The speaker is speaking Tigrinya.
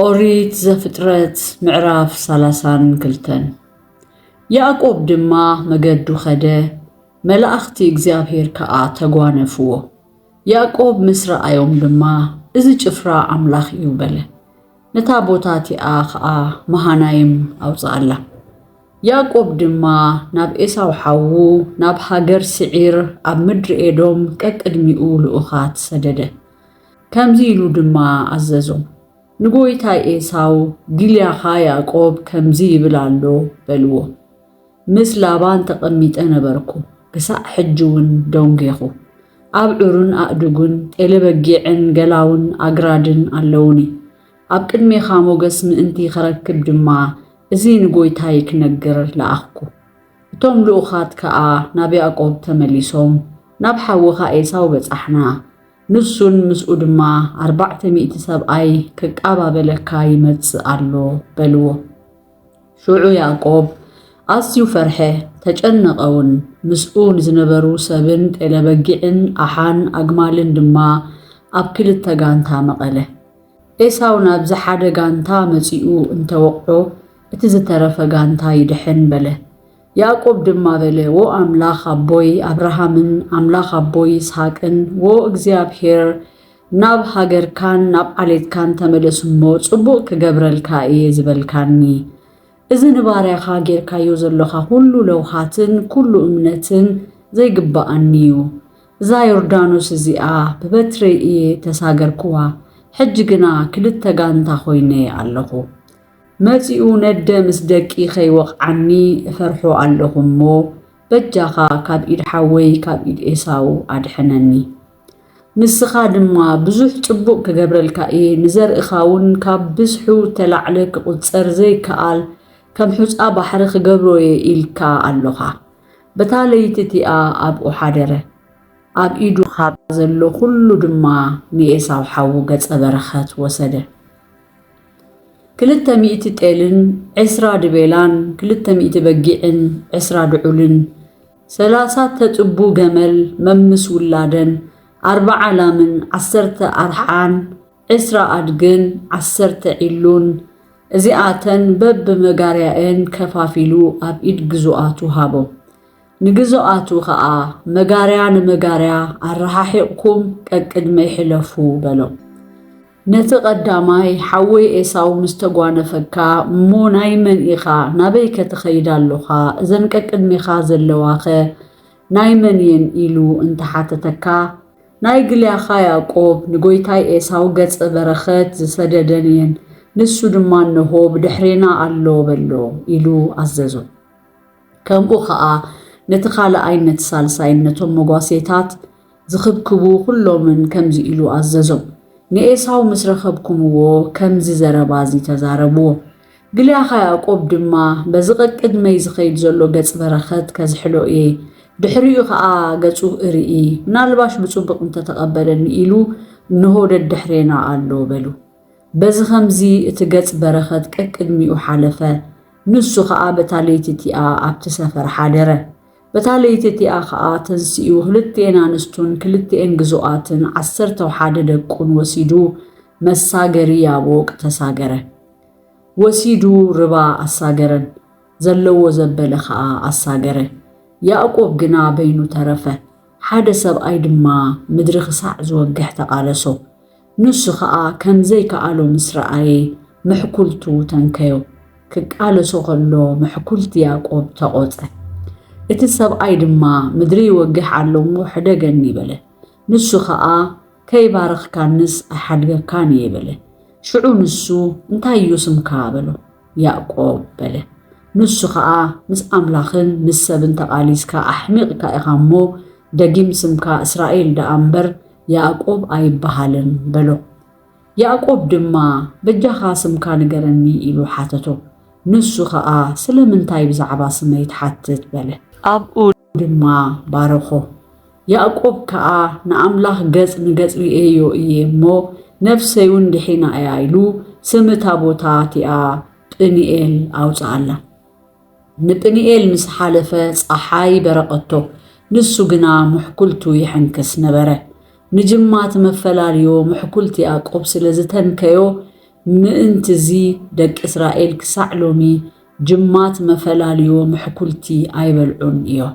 ኦሪት ዘፍጥረት ምዕራፍ ሰላሳን ክልተን ያእቆብ ድማ መገዱ ኸደ፣ መላእኽቲ እግዚኣብሔር ከዓ ተጓነፍዎ። ያእቆብ ምስ ረኣዮም ድማ እዚ ጭፍራ ኣምላኽ እዩ በለ። ነታ ቦታ እቲኣ ኸዓ መሃናይም ኣውፅኣላ። ያእቆብ ድማ ናብ ኤሳው ሓዉ ናብ ሃገር ስዒር ኣብ ምድሪ ኤዶም ቀቅድሚኡ ልኡኻት ሰደደ። ከምዚ ኢሉ ድማ ኣዘዞም፣ ንጎይታይ ኤሳው፣ ጊልያኻ ያእቆብ ከምዚ ይብል ኣሎ፣ በልዎ። ምስ ላባን ተቐሚጠ ነበርኩ፣ ክሳዕ ሕጂውን ደንጌኹ። ኣብዑርን ኣእዱግን፣ ጤለበጊዕን ገላውን ኣግራድን ኣለዉኒ። ኣብ ቅድሜኻ ሞገስ ምእንቲ ኸረክብ ድማ፣ እዚ ንጎይታይ ክነግር ለኣኽኩ። እቶም ልኡኻት ከኣ ናብ ያእቆብ ተመሊሶም፣ ናብ ሓውኻ ኤሳው በጻሕና፣ ንሱን ምስኡ ድማ ኣርባዕተ ሚእቲ ሰብኣይ ክቃባበለካ ይመጽእ ኣሎ በልዎ። ሽዑ ያእቆብ ኣዝዩ ፈርሐ፣ ተጨነቐውን፣ ምስኡ ንዝነበሩ ሰብን ጤለበጊዕን ኣሓን ኣግማልን ድማ ኣብ ክልተ ጋንታ መቐለ። ኤሳው ናብዚ ሓደ ጋንታ መጺኡ እንተወቕዖ እቲ ዝተረፈ ጋንታ ይድሕን በለ። ያእቆብ ድማ በለ፣ ዎ ኣምላኽ ኣቦይ ኣብርሃምን ኣምላኽ ኣቦይ ይስሃቅን፣ ዎ እግዚኣብሄር፣ ናብ ሃገርካን ናብ ዓሌትካን ተመለስ እሞ፣ ጽቡቕ ክገብረልካ እየ ዝበልካኒ። እዚ ንባርያኻ ጌርካዮ ዘሎኻ ዅሉ ለውሃትን ኵሉ እምነትን ዘይግብኣኒ እዩ። እዛ ዮርዳኖስ እዚኣ ብበትረይ እየ እተሳገርክዋ፣ ሕጂ ግና ክልተ ጋንታ ዀይነ ኣለኹ። መጺኡ ነደ ምስ ደቂ ከይወቕዓኒ እፈርሖ ኣለኹ እሞ በጃኻ ካብ ኢድ ሓወይ ካብ ኢድ ኤሳው ኣድሕነኒ። ንስኻ ድማ ብዙሕ ጽቡቕ ክገብረልካ እየ፣ ንዘርእኻውን ካብ ብዝሑ እተላዕለ ክቝጸር ዘይከኣል ከም ሑጻ ባሕሪ ክገብሮ እየ ኢልካ ኣሎኻ። በታ ለይቲ እቲኣ ኣብኡ ሓደረ፣ ኣብ ኢዱ ኻብ ዘሎ ዅሉ ድማ ንኤሳው ሓዉ ገጸ በረኸት ወሰደ። ክልተ ሚእቲ ጤልን ዕስራ ድቤላን ክልተ ሚእቲ በጊዕን ዕስራ ድዑልን ሰላሳ ተጽቡ ገመል መምስ ውላደን ኣርብዓ ላምን ዓሰርተ ኣርሓን ዕስራ ኣድግን ዓሰርተ ዒሉን እዚኣተን በብመጋርያኤን ከፋፊሉ ኣብ ኢድ ግዙኣቱ ሃቦም። ንግዙኣቱ ኸኣ መጋርያ ንመጋርያ ኣረሓሒቕኩም ቀቅድመይ ሕለፉ በሎም። ነቲ ቀዳማይ ሓወይ ኤሳው ምስ ተጓነፈካ እሞ ናይ መን ኢኻ ናበይከ ትኸይድ ኣሎኻ እዘን ቀቅድሜኻ ዘለዋኸ ናይ መን እየን ኢሉ እንተ ሓተተካ ናይ ግልያኻ ያእቆብ ንጎይታይ ኤሳው ገጸ በረኸት ዝሰደደን እየን ንሱ ድማ እነሆ ብድሕሬና ኣሎ በሎ ኢሉ ኣዘዞ። ከምኡ ኸኣ ነቲ ኻልኣይን ነቲ ሳልሳይን ነቶም መጓሴታት ዝኽብክቡ ዅሎምን ከምዚ ኢሉ ኣዘዞም፣ ንኤሳው ምስ ረኸብኩምዎ፣ ከምዚ ዘረባ እዚ ተዛረብዎ። ግልያኻ ያእቆብ ድማ፣ በዚ ቀቅድመይ ዚኸይድ ዘሎ ገጽ በረኸት ከዝሕሎ እየ፣ ድሕሪኡ ኸኣ ገጹ እርኢ፣ ምናልባሽ ብጽቡቕ እንተ ተቐበለኒ ኢሉ፣ እንሆ ደድሕሬና ኣሎ፣ በሉ። በዚ ኸምዚ እቲ ገጽ በረኸት ቀቅድሚኡ ሓለፈ፣ ንሱ ኸኣ በታ ለይቲ እቲኣ ኣብቲ ሰፈር ሓደረ። በታ ለይቲ እቲኣ ኸኣ ተንሲኡ ኽልቲኤን ኣንስቱን ክልቲኤን ግዙኣትን ዓሰርተው ሓደ ደቁን ወሲዱ መሳገሪ ያቦቅ ተሳገረ። ወሲዱ ርባ ኣሳገረን፣ ዘለዎ ዘበለ ኸኣ ኣሳገረ። ያእቆብ ግና በይኑ ተረፈ፣ ሓደ ሰብኣይ ድማ ምድሪ ኽሳዕ ዝወግሕ ተቓለሶ። ንሱ ኸኣ ከም ዘይከኣሎ ምስ ረኣየ፣ ምሕኵልቱ ተንከዮ። ክቃለሶ ኸሎ ምሕኵልቲ ያእቆብ ተቖጸ። እቲ ሰብኣይ ድማ፣ ምድሪ ይወግሕ ኣሎ እሞ፣ ሕደገኒ በለ። ንሱ ኸኣ፣ ከይባረኽካንስ ኣይሓድገካን እየ በለ። ሽዑ ንሱ፣ እንታይ እዩ ስምካ? በሎ። ያእቆብ በለ። ንሱ ኸኣ፣ ምስ ኣምላኽን ምስ ሰብን ተቓሊስካ ኣሕሚቕካ ኢኻ እሞ፣ ደጊም ስምካ እስራኤል ደኣ እምበር፣ ያእቆብ ኣይብሃልን በሎ። ያእቆብ ድማ በጃኻ ስምካ ንገረኒ ኢሉ ሓተቶ። ንሱ ኸኣ ስለምንታይ ብዛዕባ ስመይ ትሓትት በለ። ኣብኡ ድማ ባረኾ። ያእቆብ ከኣ ንኣምላኽ ገጽ ንገጽ ርእየዮ እየ እሞ ነፍሰይውን ድሒና እያ ኢሉ ስም እታ ቦታ እቲኣ ጵኒኤል ኣውጽኣላ። ንጵኒኤል ምስ ሓለፈ ጸሓይ በረቐቶ፣ ንሱ ግና ምሕኩልቱ ይሕንክስ ነበረ። ንጅማት መፈላልዮ ምሕኩልት ያእቆብ ስለ ዝተንከዮ፣ ምእንትዚ ደቂ እስራኤል ክሳዕ ሎሚ ጅማት መፈላልዮ ምሕኩልቲ ኣይበልዑን እዮም።